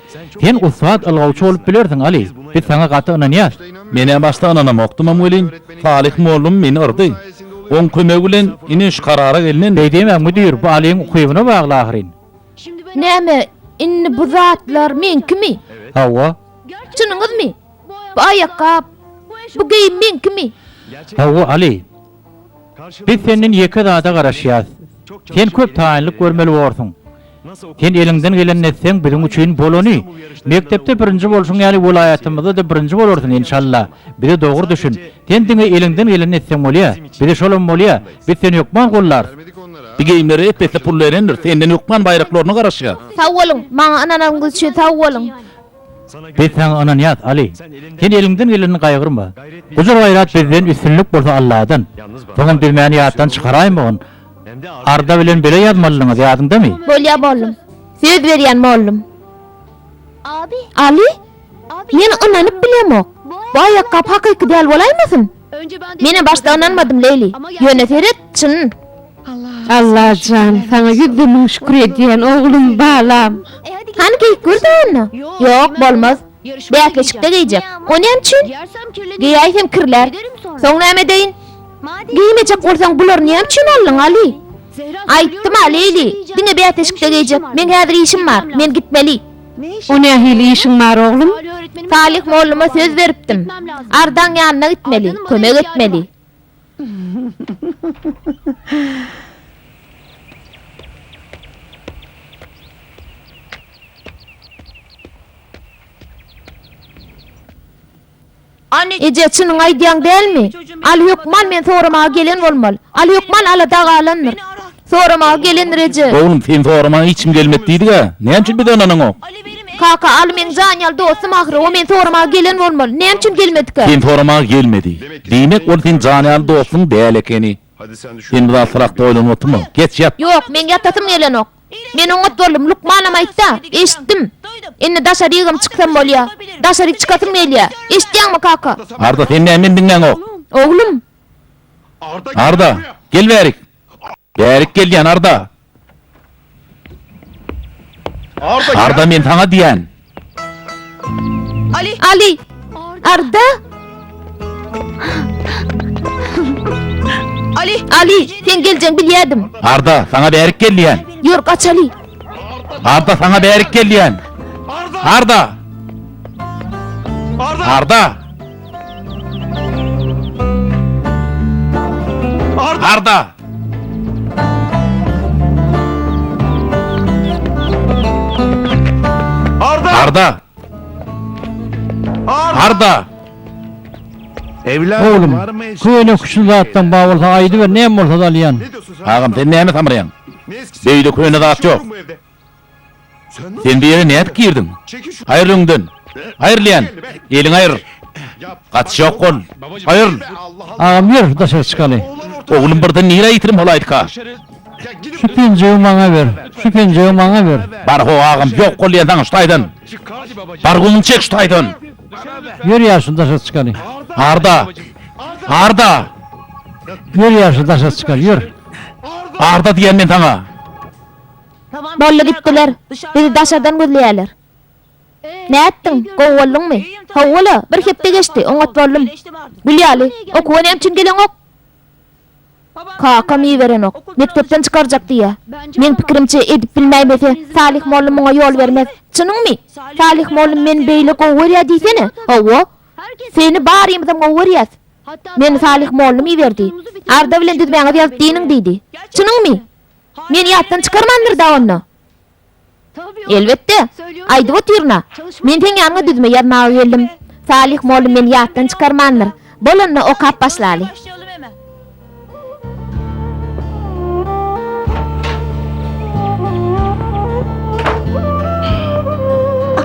Sen ussat ylgawçy bolup bilersiň, Aly. Biz saňa gaty ynanýas. Men-ä başda ynanamokdymam welin, Salyh mollum meni yrdy. Oň kömegi bilen ine şu karara gelnendi. Beýdemem, müdir, bu Alyň ukybyna bagly ahyryn. Näme, indi bu zatlar meňkimi? Hawa. Çynyňyzmy? Bu aýakgap, bu geýim meňkimi? Hawa, Aly. Biz senden ýeke zada garaşýas. Sen köp taýynlyk görmeli borsuň. Sen eliňden geleni etseň biziň üçin bolany. Mekdepde birinji bolşuň ýaly welaýatymyzda-da birinji bolarsyň enşalla. Bize dogry düşün. Sen diňe eliňden geleni etseň bolýa. Bize şolam bolýa. Biz seni hökman gollarys. Bi geýimlere ep-esli pul berendir. Senden hökman baýraklaryna garaşýas. Sag boluň. Maňa ynananyňyz üçin sag boluň. Biz saňa ynanýas, Aly. Sen eliňden gelenini gaýgyrma. Gujur-gaýrat bizden, üstünlik bolsa Alladan. Soňam biz mäni ýatdan çykaraýmagyn. Arza bilen bile ýazmalydyňyz, ýadyňdamy? Bolýar, mollum. Söz berýän, mollum. Aly, men ynanyp bilemok. Bu aýakgap hakyky däl bolaýmasyn? Menä başda ynanmadym Leýli. Ýöne seret, çyn. Allajan, saňa ýüzde müň şükür edýän, oglum, balam. Hany geýip gör-de onda. Ýok, bolmaz. Bäsleşikde geýjek. O näme üçin? Geýäýsem kirlär. Soň näme edeýin? Geýmejek bolsaň bulary näme üçin aldyň, Aly? Aýtdym-a, Leýli, diňe bäsleşikde geýjek. Meň häzir işim bar. Men gitmeli. O nähili işiň bar oglum? Salih molluma söz beripdim. Ardaň ýanyna gitmeli, kömek etmeli. Eje, çynyňy aýdýaň dälmi? Aly hökman men soramaga gelen bolmaly. Aly hökman alada galandyr. Soramaga gelendir, eje. Oglum, seni soramaga hiç kim gelmedi diýdig-ä. Näme üçin bize ynanaňok? Kaka, Aly meniň jan-ýal dostum ahyry. O meni soramaga gelen bolmaly. Näme üçin gelmedikä? Seni soramaga gelmedi. Diýmek, ol seniň jan-ýal dostuň däl ekeni. Sen bir zat sorap doýlan otymy? Geç ýat! Ýok, meň ýatasym gelenok. Men oňat boldum, lukmanam aýtdy-a. Eşitdim. Indi daşarygam çyksam bolýa. Daşaryk çykasym gelýä. Eşitýäňmi, kaka? Arda, sen näme meni diňläňok? Oglum! Arda, gel bärik! Bärik gelýän, Arda! Arda men saňa diýýän. Ali! Arda! Ali! Sen geljeň bilýädim. Arda saňa bärik gel diýýän. Ýör gaç Ali. Arda saňa bärik gel diýýän. Arda! Arda! Arda! Arda! Arda! Oglum, köne küşli zatdan ba bolsa aýdyber, näme bolsa-da alýan. Agam, sen näme samraýaň? Beýle köne zat ýok. Sen bu ýere nädip girdiň? Aýryl öňden! Aýryl diýýän! Eliňi aýryl! Gaty şok bol! Aýryl! Agam ýör, daşary çykaly. Oglum birden nirä ýitirim holaýtk-a? Şu penjegi maňa ber! Şu penjegi maňa ber! Bar-how agam, ýok bol diýýän saňa şu taýdan! Bar göwnüňi çek şu taýdan! Ýör ýagşy, daşary çykaly. Arda! Arda! Ýör ýagşy, daşary çykaly, ýör! Arda diýýän men saňa! Boldy gitdiler. Bizi daşardan gözleýärler. Nätdiň? Gowy bolduňmy? Hawa-la, bir hepde geçdi, oňat boldum. Gül ýaly, okuwa näme üçin geleňok? Kakam iberenok. Mekdepden çykarjak diýýä. Meň pikirimçe, edip bilmäýmese, Salyh molla muňa ýol bermez. Çynyňmy? Salyh molla meni beýle gowy görýär diýsene. Hawa. Seni barymyzam gowy görýäs. Meni Salyh mollam iberdi. Arda bilen düzmäňizi ýazyp diýiniň diýdi. Çynyňmy? Meni ýatdan çykarmandyr-da onda? Elbetde. Aýdyp otyryn-a. Men seň ýanyňa düzme ýazmaga geldim. Salyh molla meni ýatdan çykarmandyr. Bol onda, okap başlaly.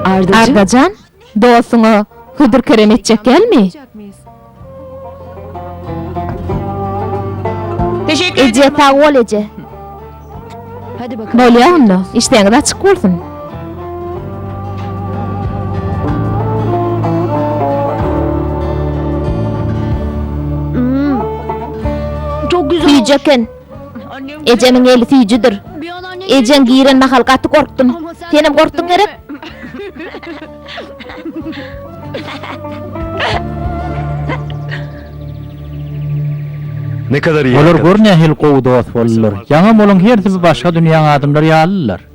Arda jan. Dostuňa hödür-kerem etjek dälmi? Eje, sag bol, eje. Bolýa onda, işdäňiz açyk bolsun. Süýjek eken. Ejemiň eli süýjüdir. Ejeň giren mahal gaty gorkdum. Senem gorkduň gerek? Olar gör nähili gowy dost boldular. Ýaňam olaň hersi bu başga dünýäň adamlary ýalydylar.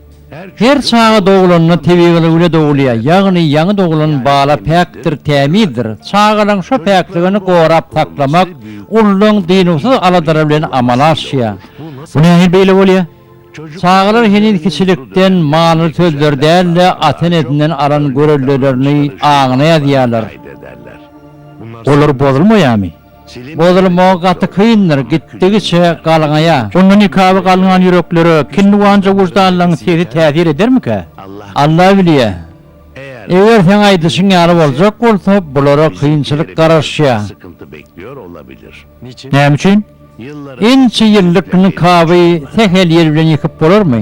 Her çaga dogulanda tebigylygyla dogulýar, ýagny ýaňy dogulan bala päkdir, tämizdir. Çagalaň şo päkligini gorap saklamak ululaň dynuwsyz aladalary bilen amala aşýar. Bu nähili beýle bolýar? Çagalar heniz kiçilikden manyly sözleri däl-de, ata-enesinden alan görellelerini aňyna ýazýarlar. Olar bozulmaýarmy? Bozulmagy gaty kyndyr, gitdigiçe galňaýa. Onda nikaby galňan ýüreklere kinniwanja wyždanlaň sesi täsir edermikä? Alla bilýä. Eger seň aýdyşyň ýaly boljak bolsa, bulara kynçylyk garaşýa. Näme üçin? Ençe ýyllyk nikaby sähel ýel bilen ýykyp bolarmy?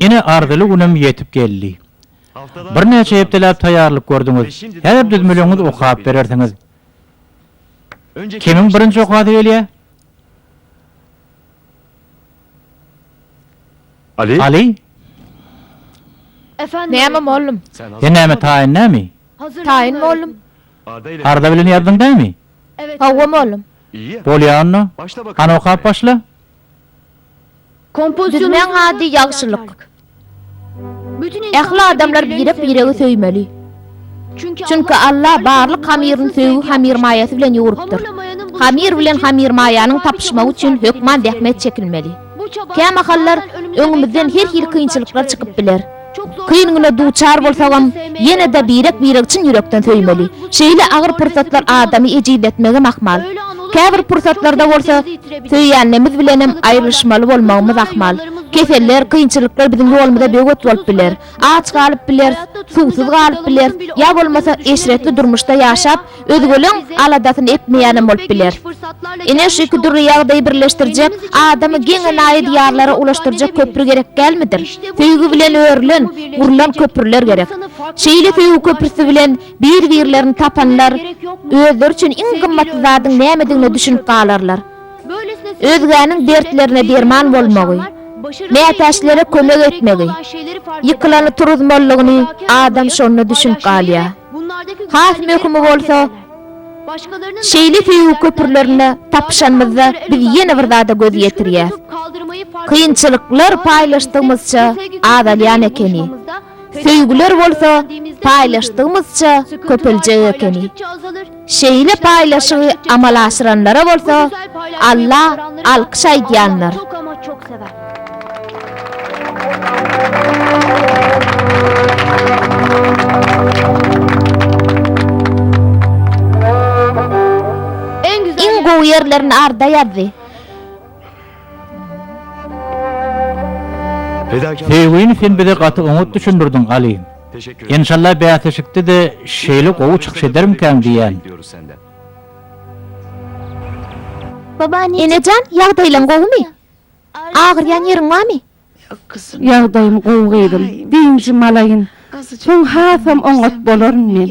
Ine, arzyly günim ýetip geldi. Birnäçe hepdeläp taýýarlyk gördüňiz. Häzir düzmeleňizi okap berersiňiz. Kimiň birinji okasy gelýär? Aly? Näme, mollum? Sen näme, taýyn dämi? Taýyn, mollum. Arza bilen ýazdyň dämi? Hawa, mollum. Bolýar onda. Hany okap başla. Düzmäň ady ýagşylyk. Ähli adamlar birek-biregi söýmeli. Çünki Alla barlyk hamyryny söýgi hamyrmaýasy bilen ýugrurypdyr. Hamyr bilen hamyrmaýanyň tapyşmagy üçin hökman zähmet çekilmeli. Kämahallar öňümizden her hili kynçylyklar çykyp biler. Kyngyna duçar bolsagam, ýene-de birek-biregi çyn ýürekden söýmeli. Şeýle agyr pursatlar adamy ejizletmegem ahmal. Käbir pursatlarda bolsa, söýýänimiz bilenem aýrylyşmaly bolmagymyz ahmal. Keseller, kynçylyklar biziň ýolumyza böwet bolup biler. Aç galyp bileris, suwsuz galyp bileris, ýa bolmasa, eşretli durmuşda ýaşap, Özgeleň aladasyny etmeýänem bolup biler. Ine şu iki dürli ýagdaýy birleşdirjek, adamy geň-e naýy diýarlara ulaşdyrjak köpri gerek dälmidir? Söýgi bilen örülen, gurlan köprüler gerek. Şeýle söýgi köprüsi bilen bir-birlerini tapanlar özleri üçin iň gymmatly zadyň nämedigine düşünip galarlar. Özgäniň dertlerine derman bolmagy, mätäçlere kömek etmegi, ýykylany turuzmalygyny adam şonda düşünip galýar. Has möhümi bolsa, şeýle söýgi köprülerine tapyşanymyzda biz ýene bir zada göz ýetirýäs. Kynçylyklar paýlaşdygymyzça azalýan ekeni. Söýgüler bolsa paýlaşdygymyzça köpeljek ekeni. Şeýle paýlaşygy amala aşyranlara bolsa Alla alkyş aýdýandyr. Iň gowy ýerlerini Arda ýazdy. Söýgini sen bize gaty oňat düşündirdiň Aly. Enşalla bäsleşikde de şeýle gowy çykyş edermkäň diýýän. Enejan ýagdaýlaň gowumy? Agyrýan ýeriň barmy? Ýagdaýym gowy gyzym. Dynjym alaýyn. Soň hasam oňat bolaryn men.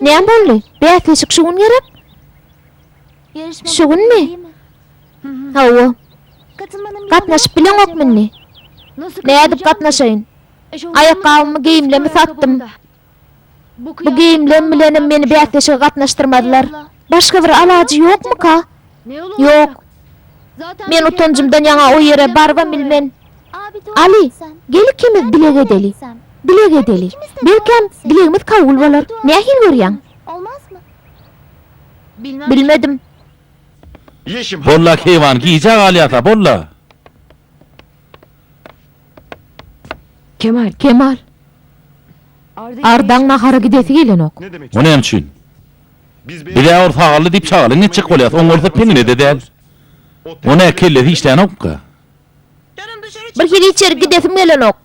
Näme boldy? Bäsleşik şu gün gerek? Şu günmi? Hawa. Gatnaşyp bileňokmy indi? Nädip gatnaşaýyn? Aýakgabymy, geýimlerimi satdym. Bu geýimlerim bilenem meni bäsleşige gatnaşdyrmazlar. Başga bir alajy ýokmyka? Ýok. Men utanjymdan ýaňa o ýere barybam bilmen. Aly, gel ikimiz bileg edeli. Bileg edeli. Belkäm, bilegimiz kabul bolar. Nähili görýäň? Bilmedim. Bolla, keýwan, gijä galýas-a, bolla! Kemal. Ardaň nahara gidesi gelenok. O näme üçin? Biz-ä ol sagally diýip çagalaň etjek bolýas, oň bolsa peňine-de däl. Ony-ä kellesi işlänok-ka. Bir hili içerik gidesim gelenok.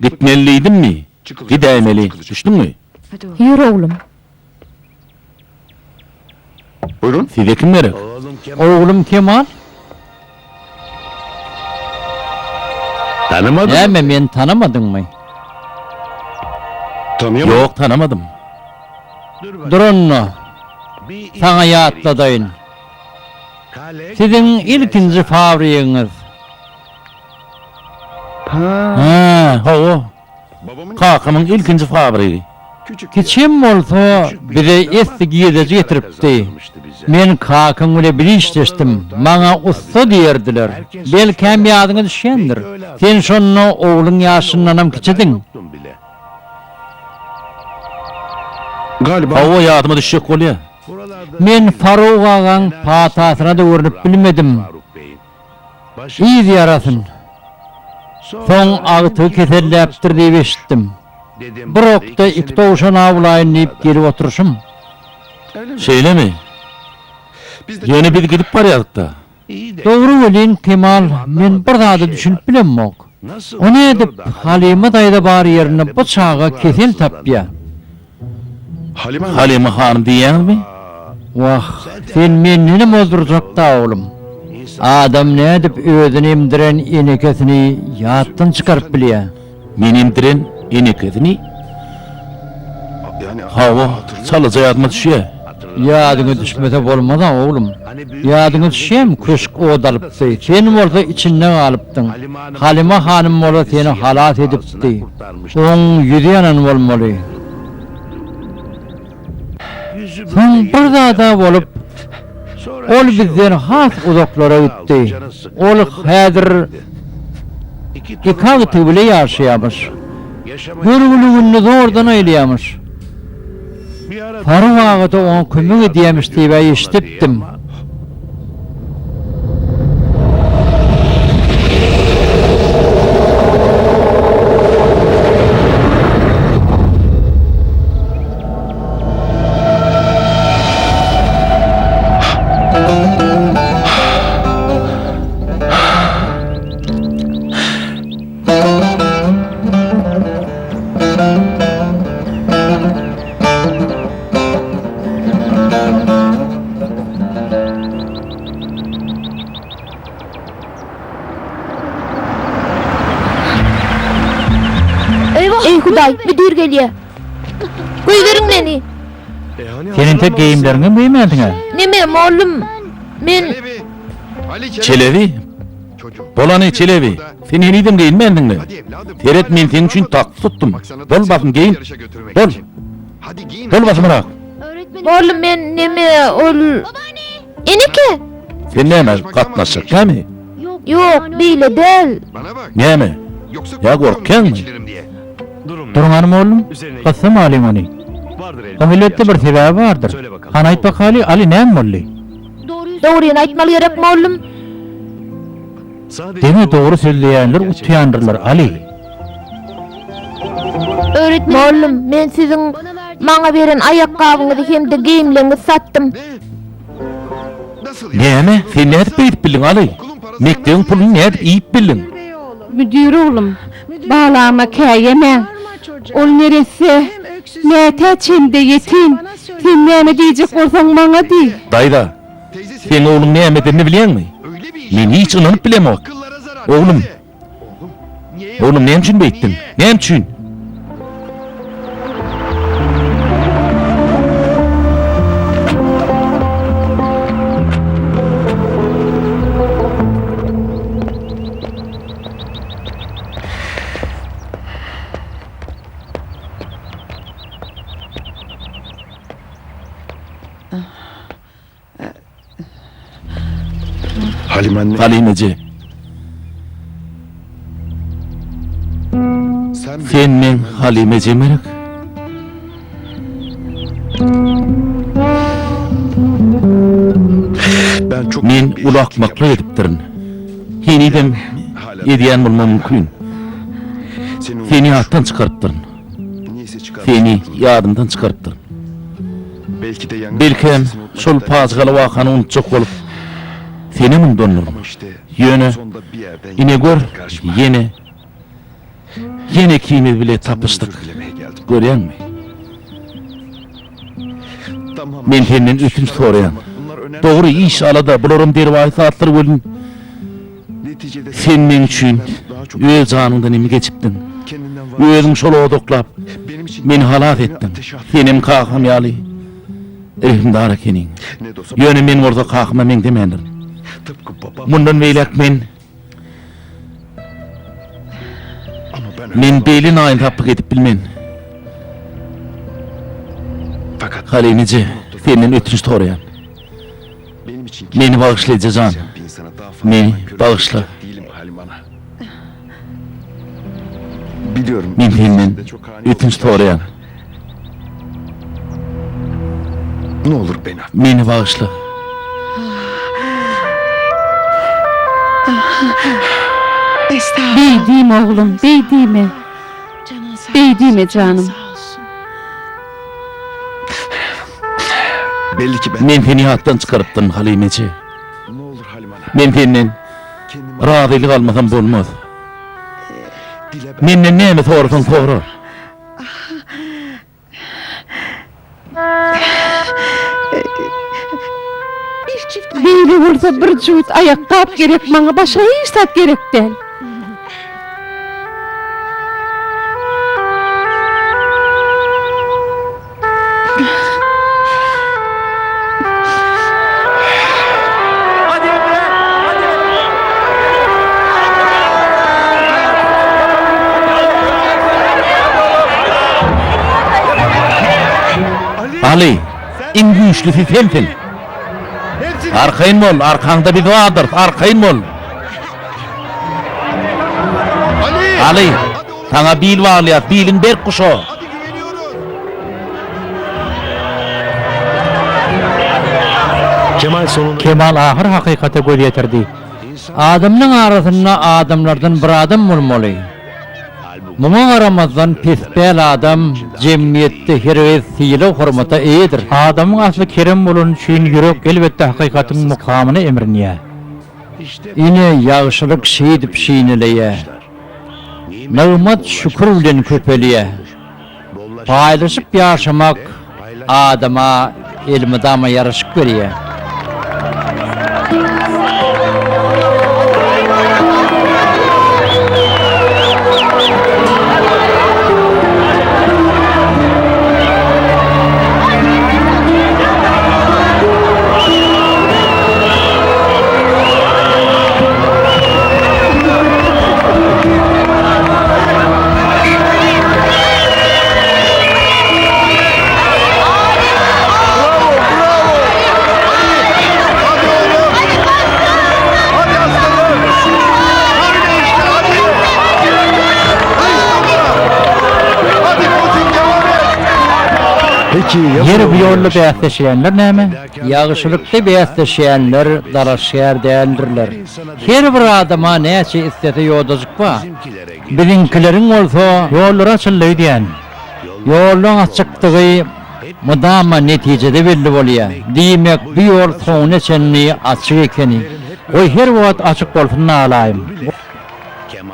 Gitmeli diýdimmi? Gidäýmeli. Düşdüňmi? Ýör, oglum. Size kim gerek? Oglum Kemal. Näme, meni tanamadyňmy? Ýok, tanamadym. Dur onda, saňa ýatladaýyn. Siziň ilkinji fabrigiňiz. Hä, hawa. Kakamyň ilkinji fabrygy. Kiçi hem bolsa, bize esli girdeji getiripdi. Men kakam bilen bir işleşdim. Maňa ussa diýerdiler. Belkäm ýadyňa düşýändir. Sen şonda ogluň ýaşyndanam kiçidiň. Hawa, ýadyma düşjek bolýar. Men Faruk agaň patasyna-da görnüp bilmedim. Yz ýarasyn. Soň agtygy keselläpdir diýip eşitdim. Bir okda iki towşan awlaýyn diýip gelip oturyşym. Şeýlemi? Ýöne biz gidip barýadyk-da. Dogry welin, Kemal, men bir zada düşünip bilemmok. O nädip Halyma daýza bar ýerinde bu çaga kesel tapýa? Halyma hanym diýýäňizmi? Wah, sen mendenem ozdurjak-da, oglum. Adam nädip özüni emdiren enekesini ýatdan çykaryp bilýä? Meni emdiren enekesini? Hawa, çalaja ýadyma düşýä. Ýadyňa düşmese bolmaz-a, oglum. Ýadyňa düşýämi, köşk ot alypdy. Sen bolsa içinde galypdyň. Halyma hanym bolsa seni halas edipdi. Oň ýüzi ýanan bolmaly. Soň bir zad-a bolup, ol bizden has uzaklara gitdi. Ol häzir iki agtygy bile ýaşaýarmyş. Görgüli gününi zordan aýlaýarmyş. Faruk aga-da oňa kömek edýämiş diýip-ä eşidipdim. Eý Hudaý, müdir gelýär. Goýberiň meni. Sen entek geýimleriňem geýmänsiň-ä? Neme, mollum? Men Çelebi, Bolany, Çelebi, sen henizem geýinmändiňmi? Seret, men seň üçin tagt tutdum. Bol, basym geýin. Bol. Bol, basymrak. Bol, men näme, ol. Eneke! Sen näme, gatnaşjak dälmi? Ýok, beýle däl. Näme? Ýa gorkýaňmy? Duruň hanym, oglum, gyssam alyň ony. Oň elbetde bir sebäbi bardyr. Hany aýt bakaly, Aly, näme boldy? Dogryny aýtmaly gerek mollum. Diňe dogry sözleýänler utýandyrlar Aly. Mollum men siziň maňa beren aýakgabyňyzy hem-de geýimleňňizi satdym. Näme? Sen nädip beýdip bildiň Aly? Mekdebiň puluny nädip iýip bildiň? Müdir oglum, balama kä ýemäň. Ol neresse, mätäç hem-de ýetim. Sen näme diýjek bolsaň, maňa diý. Daýza, seň ogluň näme edenini bilýäňmi? Men hiç ynanyp bilemok. Oglum! Oglum, näme üçin beýtdiň? Näme üçin? Halim eje. Sen meň Halim ejemerik? Men uly akmaklyk edipdirin. Henizem edýän bolmam mümkin. Seni ýatdan çykarypdyryn. Seni ýadymdan çykarypdyryn. Belkem, şol pajygaly wakany unutjak bolup, senem undandyryn. Ýöne, ine gör, ýene, ýene ikimiz bile tapyşdyk. Görýäňmi? Men senden ötünç soraýan. Dogry, iş, alada, bularam derwaýys zatlar welin, Sen meň üçin öz janyňdan hem geçipdiň. Özüň şol odaklap, meni halas etdiň. Senem kakam ýaly rehimdar ekeniň. Ýöne men bolsa kakama meňzemändir. Mundan beýläk men Men beýle naýynsaplyk edip bilmen. Halynyje, senden ötünç soraýan. Meni bagyşla, eje jan. Meni bagyşla. Men senden ötünç soraýan. Meni bagyşla. Beýdime, oglum, beýdime. Beýdime, janym. Men seni ýatdan çykarypdyryn, Halymeje. Men senden razylyk almasam bolmaz. Menden näme sorasaň sora. Beýle bolsa bir jübüt aýakgap gerek maňa, başga hiç zat gerek däl. Aly, iň güýçlüsi sensiň! Arkaýyn bol, arkaňda biz bardyrys, arkaýyn bol! Aly, saňa bil baglaýas, biliň berk guşa. Kemal ahyr hakykata göz ýetirdi. Adamlaň arasynda adamlardan bir adam bolmaly. Muňa garamazdan pespäl adam jemgyýetde hergiz sylag-hormata eýedir. Adamyň asly kerem bolany üçin ýürek elbetde hakykatyň mukamyna emrinýär. Ine, ýagşylyk şeýdip şineleýä. Nygmat şükür bilen köpelýä. Paýlaşyp ýaşamak adama elmydama ýaraşyk berýä. Ýeri bu ýolda bäsleşýänler näme? Ýagşylykda bäsleşýänler dalaşgär däldirler. Her bir adama näçe islese ýodajyk bar. Biziňkileriň bolsa. Ýollary açyldy öýdýän. Ýollaryň açykdygy mydama netijede belli bolýar. Diýmek, bu ýol soňuna çenli açyk ekeni. Goý, her wagt açyk bolsun alaýyn.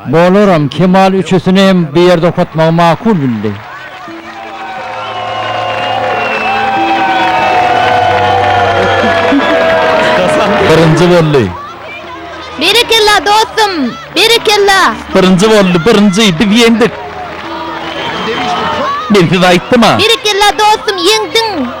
Bolaram, Kemal üçüsini hem bir ýerde okatmagy makul bildi. Birinji boldy. Berekella dostum, berekella. Birinji boldy, birinji, biz ýeňdik. Men size aýtdym-a. Berekella dostum, ýeňdiň.